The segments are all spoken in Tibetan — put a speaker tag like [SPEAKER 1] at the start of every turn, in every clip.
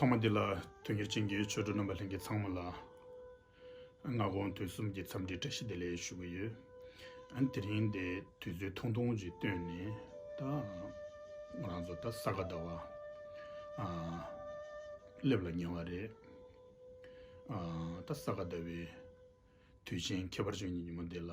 [SPEAKER 1] ཐོག་མ་འདི་ལ་དོན་གཉེར་ཅན་གྱི་ཆོས་གྲུབ་རྣམ་པ་ལྷན་རྒྱས་ཚང་མ་ལ་སྔ་དགོང་དུས་གསུམ་གྱི་འཚམས་འདྲི་བཀྲ་ཤིས་བདེ་ལེགས་ཞུ་གི་ཡོད། དེ་རིང་འདི་དུས་ཚོད་ཐུང་ཐུང་ཞིག་བཏོན་ནས་ད་ང་རང་ཚོ་ད་ས་ག་ཟླ་བ་སླེབས་ལ་ཉེ་བ་རེད། ད་ས་ག་ཟླ་བའི་དུས་ཆེན་ཁྱད་པར་ཅན་གྱི་ཉིན་མོ་འདི་ལ།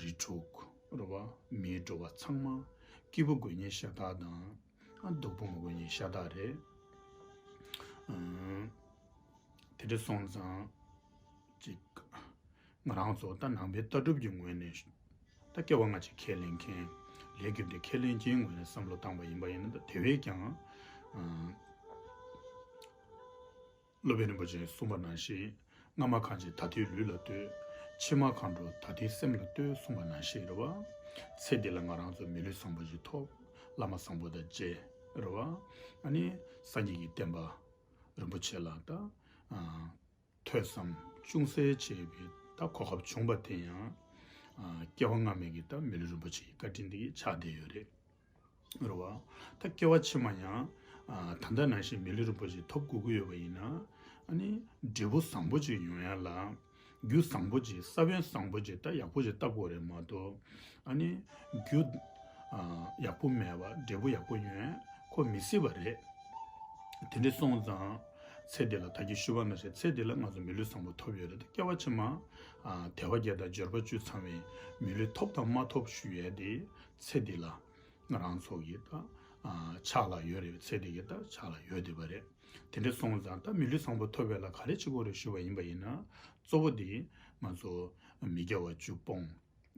[SPEAKER 1] རི་དྲུག། རུ་བ། མིའི་འགྲོ་བ་ཚང་མ། སྐྱིད་པོ་དགོས་ཉེན་ཤ་སྟག་དང། སྡུག་པོ་མ་དགོས་ཉེན་ཤ་སྟག་རེད། དེ་འདྲ་སོང་ཙང། ཅིག། ང་རང་ཚོ་ད་ནང་པའི་ལྟ་གྲུབ་ཀྱི་ངོས་ནས། ད་སྐྱེ་བ་སྔ་ཕྱི་ཁས་ལེན་མཁན། ལས་རྒྱུ་འབྲས་ཁས་ལེན་མཁན་ངོས་ནས་བསམ་བློ་བཏང་བ་ཡིན་པ་ཡིན་ན་དེ་བས་ཀྱང། སློབ་དཔོན་རིན་པོ་ཆེན་གསུངས་པ་ནང་བཞིན། སྔ་མ་གང་ཅིག་ད་ཐེའི་ལུས་ལ་ལྟོས། ཕྱི་མ་གང་འགྲོ་ད་ཐེའི་སེམས་ལ་ལྟོས་གསུངས་པ་ནང་བཞིན་རེད་བ། ཚེ་འདི་ལ་ང་རང་ཚོ་མི་ལུས་བཟང་པོ་ཞིག་ཐོབ། བླ་མ་བཟང་པོ་དང་མཇལ། རེད་བ། ཨ་ནི། སངས་རྒྱས་ཀྱི་བསྟན་པ། རིན་པོ་ཆེ་ལགས་ད། ཐོས་བསམ། ཅུང་ཟད་བྱས་པའི་ད་གོ་སྐབས་བྱུང་བ་དེ་ཡང། སྐྱེ་བ་སྔ་མའི་གི་ད་མི་ལུས་རིན་པོ་ཆེ་ཡི་བཀའ་དྲིན་དེ་གི་ཆགས་བསྡད་ཡོད་རེད། རུ་བ། ད་སྐྱེ་བ་ཕྱི་མ་ཡང། ད་ལྟ་ནང་བཞིན་མི་ལུས་རིན་པོ་ཆེ་ཐོབ་དགོས་ཀྱི་ཡོད་པ་ཡིན། ནི། འབྲས་བུ་བཟང་པོ་ཅིག་ཡོང་ཡ་ལ། རྒྱུ་བཟང་པོ་ཅིག་ས་བོན་བཟང་པོ་ཅིག་ད་ཡག་པོ་ཅིག་བཏབ་དགོས་རེད་མ་གཏོགས། ནི། རྒྱུ། ཡག་པོ་མེད་པར་འབྲས་བུ་ཡག་པོ་ཡོན་ཁོ་མི་སྲིད་པ་རེད། དེ་འདྲ་སོང་ཙང། ཚེ་འདི་ལ་ད་ཀྱི་ཤུ་བ་མེད་ཚེ་ཚེ་འདི་ལ་ང་ཚོ་མི་ལུས་བཟང་པོ་ཐོབ་ཡོད་རེད་ད་སྐྱེ་བ་ཕྱི་མ། དལ་བ་བརྒྱད་དང་འབྱོར་པ་བཅུ་ཚང་བའི། མི་ལུས་ཐོབ་དང་མ་ཐོབ་ཞུ་ཡས་ཏེ། ཚེ་འདི་ལ་རང་ཚོགས་ཀྱི་ཆགས་ལ་ཡོད་རེད་ཚེ་འདི་གི་ཆགས་ལ་ཡོད་འདི་པ་རེད་དེ་འདྲ་སོང་ཙང་ད་མི་ལུས་བཟང་པོ་ཐོབ་པའི་ལ་ག་རེ་བྱེད་དགོས་རེད་ཞུས་པ་ཡིན་པ་ཡིན་ན་གཙོ་བོ་འདི་ང་ཚོ་མི་རྒྱ་བ་བཅུ་སྤོང་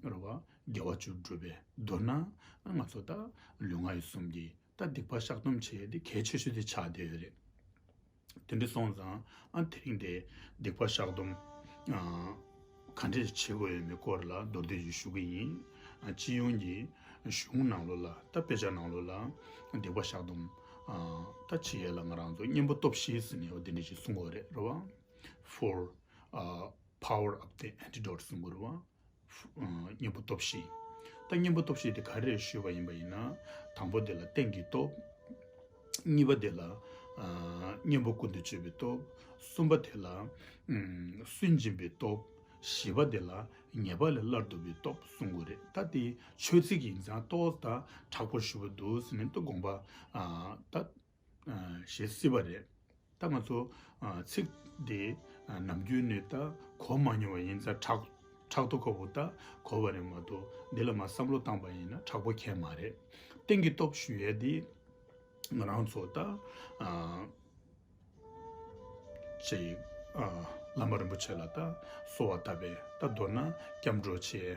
[SPEAKER 1] རེད་བ་རྒྱ་བ་བཅུ་སྒྲུབ་པའི་མདོར་ན་ང་ཚོ་ད་ལུས་ངག་ཡིད་གསུམ་གྱི་ད་སྡིག་པ་བཤགས་སྡོམ་བྱེད་ཡས་འདི་གལ་ཆེ་ཤོས་འདི་ཆགས་འདི་ཡོད་རེད། དེ་འདྲ་སོང་ཙང་ཨ་དེ་རིང་དེ་སྡིག་པ་བཤགས་སྡོམ་ག་འདྲས་བྱེད་དགོས་ཡོད་མེད་སྐོར་ལ་མདོར་བསྡད་ཅིག་ཞུ་གི་ཡིན། སྤྱི་ཡོངས་ཀྱི་གཞུང་ནང་ལོ་ལ་ད་དཔེ་ཆ་ནང་ལོ་ལ་སྡིག་པ་བཤགས་སྡོམ་ད་བྱེད་ཡས་ལ་ང་རང་ཚོ་གཉེན་པོ་སྟོབས་ཤེས་ཟིན་ནས་དེ་འདྲས་ཅིག་གསུང་གོ་རེད་རོ་བ། Four། Power of the Antidote གསུང་གོ་རོ་བ། གཉེན་པོ་སྟོབས་བཞི། ད་གཉེན་པོ་སྟོབས་བཞི་དེ་ག་རེ་རེ་ཞུས་པ་ཡིན་པ་ཡིན་ན། དང་པོ་དེ་ལ་རྟེན་གྱི་སྟོབས། གཉིས་པ་དེ་ལ་གཉེན་པོ་ཀུན་དུ་སྤྱོད་པའི་སྟོབས། གསུམ་པ་དེ་ལ་སུན་འབྱིན་པའི་སྟོབས། བཞི་པ་དེ་ལ་ཉེས་པ་ལས་སླར་འདུ་བའི་སྟོབས་གསུངས་དགོས་རེད་ད་དེ་ཆོས་ཚིག་གི་ཡིན་ཙང་ཏོག་ལྟར་དྲག་པོར་ཞུ་བ་འདུག་ཟེར་ནས་ཏུ་དགོངས་པ། ཞེས་སྲིད་པ་རེད། ད་ང་ཚོ་ཚིག་འདི་ནམ་རྒྱུན་ནས་ད་གོ་མ་མྱོང་བ་ཡིན་ཙང་དྲག་དྲག་ཏུ་ཁོ་བོ་ད་གོ་བ་རེད་མ་གཏོགས་འདི་ལ་མ་བསམ་བློ་བཏང་པ་ཡིན་ན་དྲག་པོ་ཁྱད་མ་རེད། གཏན་གྱི་སྟོབས་ཞུ་ཡས་འདི་ང་རང་ཚོ་ད་ཅེ་ཡིག་བླ་མ་རིན་པོ་ཆེ་ལ་ད་གསོལ་བ་བཏབ་པས་ད་མདོར་ན་སྐྱབས་འགྲོ་ཆེ།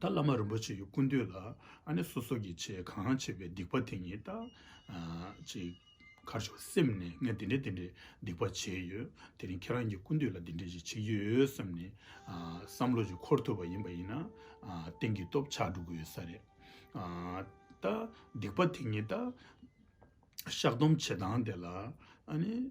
[SPEAKER 1] ད་བླ་མ་རིན་པོ་ཆེ་ཡི་སྐུ་མདུན་ལ་ཨ་ནེ་སོ་སོ་གྱི་ཆེད་གང་བྱས་པའི་སྡིག་པ་དེ་ཉིད་ད་ཅིག་ཁར་ཞོག་སེམས་ནས་ངས་དེ་འདྲས་དེ་འདྲས་སྡིག་པ་བྱས་ཡོད་དེ་རིང་ཁྱེད་རང་གི་སྐུ་མདུན་ལ་དེ་འདྲས་ཞིག་བྱེད་ཀྱི་ཡོད་བསམ་ནས་བསམ་བློ་ཞིག་འཁོར་ཐུབ་པ་ཡིན་པ་ཡིན་ན་གཏན་གྱི་སྟོབས་ཆགས་འགྲོ་གི་ཡོད་ས་རེད། ད་སྡིག་པ་དེ་ཉིད་ད་བཤགས་སྡོམ་བྱེད་སྟངས་དེ་ལ་ཨ་ནེ།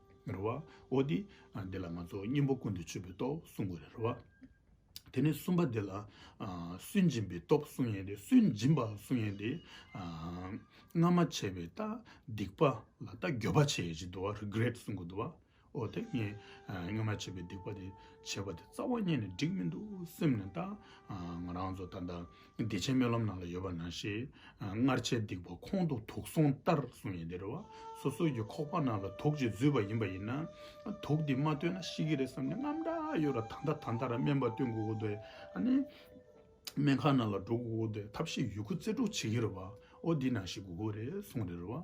[SPEAKER 1] རེད་བ། འོ་དེ་འདི་ལ་ང་ཚོ་སྙིང་པོ་ཀུན་ཏུ་སྤྱོད་པའི་སྟོབས་གསུང་གི་རེད་བ། དེ་ནས་གསུམ་པ་འདི་ལ་སུན་འབྱིན་པའི་སྟོབས་གསུང་ཡང་དེ་སུན་འབྱིན་པ་གསུང་ཡང་དེ། སྔར་མ་བྱས་པའི་ལྟ་སྡིག་པ་ལ་ལྟ་འགྱོད་པ་བྱས་ཡོད་ཅེས་འདུལ་བ Regret གསུང་གི་འདུལ་བ། འོ་དེ་ངས་སྔར་མ་བྱས་པའི་སྡིག་པ་དེ་བྱས་པ་དེ་རྩ་བ་ཉེས་ནས་འགྲིག་མི་འདུག་སེམས་ནས་ལྟ། ང་རང་ཚོ་ད་ལྟ་བདེ་ཆེན་སྨོན་ལམ་ནང་ལ་ཡོད་པ་ནང་བཞིན། སྔར་བྱས་སྡིག་པ་ཁོང་དུ་དུག་སོང་ལྟར་གསུངས་ཡིན་དེར་བ། སོ་སོའི་ཀྱི་ཁོག་པ་ནང་ལ་དུག་ཅིག་འཛུལ་བ་ཡིན་པ་ཡིན་ན། དུག་འདི་མ་བཏོན་ན་ཤི་གི་རེད་བསམ་ནས་རྔམ་དྲག་ཡོད་ར་ད་ལྟ་ད་ལྟ་ར་སྨན་པ་བཏོན་དགོས་ཀུ་དེ། སྨན་ཁང་ནང་ལ་འགྲོ་དགོས་ཀུ་དེ་ཐབས་ཤེས་ཡོད་ཁུ་རྩེ་དྲུག་བྱེད་ཀི་རེད་བ། ཨོ་འདི་ནང་བཞིན་དགོས་ཀུ་རེད་གསུངས་དེར་བ།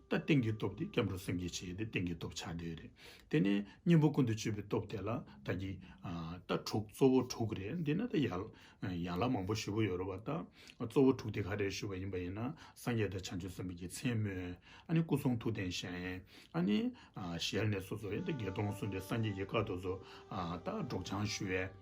[SPEAKER 1] ད་སྟེང་གི་སྟོབས་དེ་སྐྱབས་འགྲོ་སེམས་བསྐྱེད་བྱེད་ཀྱི་སྟེང་གི་སྟོབས་ཆགས་བྲལ་རེད། དེ་ནས་གཉེན་པོ་ཀུན་ཏུ་སྤྱོད་པའི་སྟོབས་དེ་ལ་ད་ཀྱི། ད་དྲུག་གཙོ་བོ་དྲུག་རེད་འདི་ན་ད་ཡང་ལ་མང་པོ་ཞུ་གི་ཡོད་རེད་བ་ད་གཙོ་བོ་དྲུག་དེ་ག་རེ་ཞུ་བ་ཡིན་པ་ཡིན་ན་སངས་རྒྱས་དང་བྱང་ཆུབ་སེམས་དཔའི་རྒྱལ་མཚན་སྨོས། ཨ་ནི་སྐུ་གསུང་ཐུགས་རྟེན་བཞེངས། ཨ་ནི། ཞལ་ནས་སོ་སོ་ཡི་ད་བརྒྱད་སྟོང་སོ་འདི་སངས་རྒྱས་ཀྱི་བཀའ་དོ་སོ། ད་སྒྲོགས་སྦྱང་ཞུ་བས།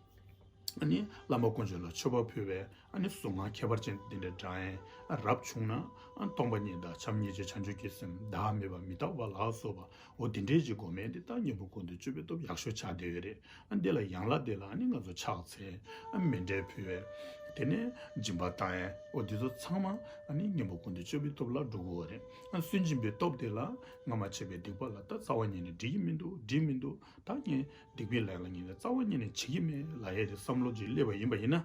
[SPEAKER 1] ཨ་ནི་བླ་མ་དཀོན་མཆོག་ལ་མཆོད་པ་ཕུལ་བས། གཟུངས་སྔགས་ཁྱད་པར་ཅན་འདི་འདྲའི་སྒྲ་ཡན་རབ་བྱུང་ན། སྟོང་པ་ཉིད་དང་བྱམས་སྙིང་རྗེ་བྱང་ཆུབ་ཀྱི་སེམས་བདག་མེད་པ་མི་རྟག་པ་ལགས་སོ། འོ་དེ་འདྲའི་ཅིག་སྒོ་མེད་འདི་ལྟར་སྙིང་པོ་ཀུན་ཏུ་སྤྱོད་པའི་སྟོབས་ཡག་ཤོས་ཆགས་བསྡད་ཡོད་རེད། འདི་ལ་ཡང་ལ་དེ་ལ་ནི་ང་ཚོ་ཕྱག་འཚལ། མེ་འབྲས་ཕུལ་བས། དེ་ནས་སྦྱིན་པ་དང། འོ་འདི་ཚོ་ཚང་མ་ནི་སྙིང་པོ་ཀུན་ཏུ་སྤྱོད་པའི་སྟོབས་ལ་འགྲོ་དགོས་བ་རེད། སུན་འབྱིན་པའི་སྟོབས་དེ་ལ་སྔ་མ་བྱས་པའི་སྡིག་པ་ལ་ད་རྩ་བ་ཉིད་ནས་འགྲིག་གི་མི་འདུག་འགྲིག་མི་འདུག་ད་ངས་སྡིག་པའི་ལས་ལ་ཉིད་ནས་རྩ་བ་ཉིད་ནས་བྱེད་ཀྱི་མེད་ལ་ཡ་རེད་བསམ་བློ་ཅིག་སླེབས་པ་ཡིན་པ་ཡིན་ན།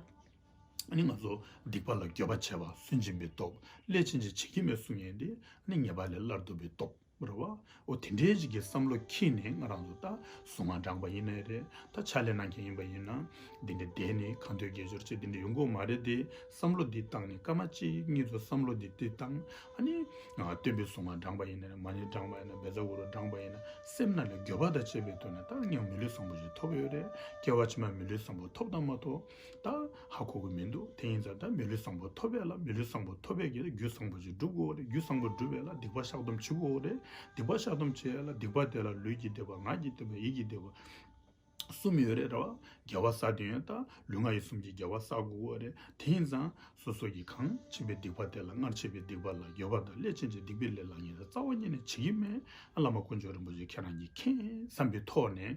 [SPEAKER 1] ནི་ང་ཚོ་སྡིག་པ་ལ་སྐྱོ་བ་བྱེད་པ་སུན་འབྱིན་པའི་སྟོབས་ལས་ཕྱིན་ཅི་བྱེད་ཀྱི་མེད་གསུང་ངན་དེ་ནི་ཉེས་པ་ལས་སླར་བསྡུ་བའི་སྟོབས་རེད་བ་འོ་དེ་འདྲའི་རིགས་ཀྱི་བསམ་བློ་ཁྱིས་ནས་ང་རང་ཚོ་ད་སུ་མ་འགྲངས་པ་ཡིན་ནའི་རེ་ད་ཕྱག་ལས་གནང་མཁན་ཡིན་པ་ཡིན་ན་འདི་འདྲའི་བསྡད་ནས་གང་འདོད་སྐད་ཅོར་བྱེད་འདི་འདྲ་ཡོང་དགོས་མ་རེད་དེ་བསམ་བློ་འདི་བཏང་ནས་སྐར་མ་གཅིག་གཉིས་ཚོ་བསམ་བློ་འདི་འདི་བཏང་ཨ་ནི་སྟོན་པའི་སུ་མ་འགྲངས་པ་ཡིན་ནའི་རེ་མ་ནི་འགྲངས་པ་ཡིན་ན་བེ་ཚ་བུ་རུ་འགྲངས་པ་ཡིན་ན་སེམས་ན་ལས་འགྱོད་པ་དང་བཅས་པའི་དོན་ནི་ད་ངས་མི་ལུས་བཟང་པོ་ཞིག་ཐོབ་ཡོད་རེད་སྐྱེ་བ་ཕྱི་མ་མི་ལུས་བཟང་པོ་ཐོབ་དང་མ་ཐོབ། ད་ཧ་གོ་གི་མི་འདུག་དེ་ཡིན་ཙང་ད་མི་ལུས་བཟང་པོ་ཐོབ་པས་ལ་མི་ལུས་བཟང་པོ་ཐོབ་པས་ཀྱི་ལ་རྒྱུད་བཟང་པོ་ཅིག་འགྲུབ་དགོས་རེད་རྒྱུད་བཟང་པོ་འགྲུབ་པས་ལ་སྡིག་པ་བཤགས་སྡོམ་བྱེད་དགོས་རེད་སྡིག་པ་བཤགས་སྡོམ་བྱས་ལ་སྡིག་པ་དེ་ལ་ལུས་ཀྱི་བདེ་བ་ངག་གི་བདེ་བ་ཡིད་ཀྱི་བདེ་བ་གསུམ་ཡོད་རེད་ར་བ་རྒྱལ་བ་ས་དེ་ཡོད་ད་ལུས་ངག་ཡིད་གསུམ་གྱི་རྒྱལ་བ་བསགས་དགོས་རེད་དེ་ཡིན་ཙང་སོ་སོ་ཀྱི་གང་བྱིན་པའི་སྡིག་པ་དེ་ལ་སྔར་བྱས་པའི་སྡིག་པ་ལ་ཡོད་པ་དང་སླད་ཕྱིན་ཅི་སྡིག་པའི་ལས་ལ་ཉེ་ས་རྩ་བ་ཉིད་ནས་བྱེད་ཀྱི་མེད་ཨ་བླ་མ་དཀོན་མཆོག་རིན་པོ་ཆེ་ཁྱེད་རང་གྱིས་མཁྱེན་བསམ་པའི་ཐོག་ནས་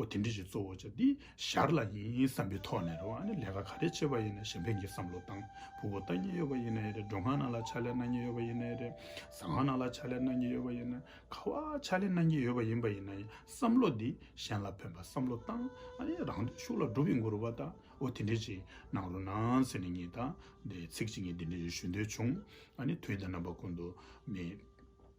[SPEAKER 1] ཨོ་དེ་འདྲི་ཞིག་གཙོ་བོ་བྱ་འདི་ཞར་ལ་ཡིན་བསམ་པའི་ཐོག་ནས་རེད་བ་ནི་ལས་ཀ་ག་རེ་བྱེད་པ་ཡིན་ན་གཞན་ཕན་གྱི་བསམ་བློ་དང་ཕུགས་བོ་ལྟ་ཉེན་ཡོད་པ་ཡིན་ན་རེད་འགྲོ་ཁང་ནང་ལ་ཕྱག་ལས་གནང་ཉེན་ཡོད་པ་ཡིན་ན་རེད་ཟ་ཁང་ནང་ལ་ཕྱག་ལས་གནང་ཉེན་ཡོད་པ་ཡིན་ན་ཁ་བ་ཕྱག་ལས་གནང་ཉེན་ཡོད་པ་ཡིན་པ་ཡིན་ན་བསམ་བློ་འདི་གཞན་ལ་ཕན་པ་བསམ་བློ་བཏང་རང་དོན་ཤུགས་ལ་སྒྲུབ་པའི་མགོ་རུ་བ་དང་ཨོ་དེ་འདྲི་ཞིག་གནང་རོགས་གནང་ཟེར་ནས་ངེད་དང་ཚིག་གཅིག་ངེད་འདི་འདྲི་ཞིག་ཞུ་འདོད་བྱུང་དུས་འདི་རྣམ་པ་ཀུན་ཏུ་མེད།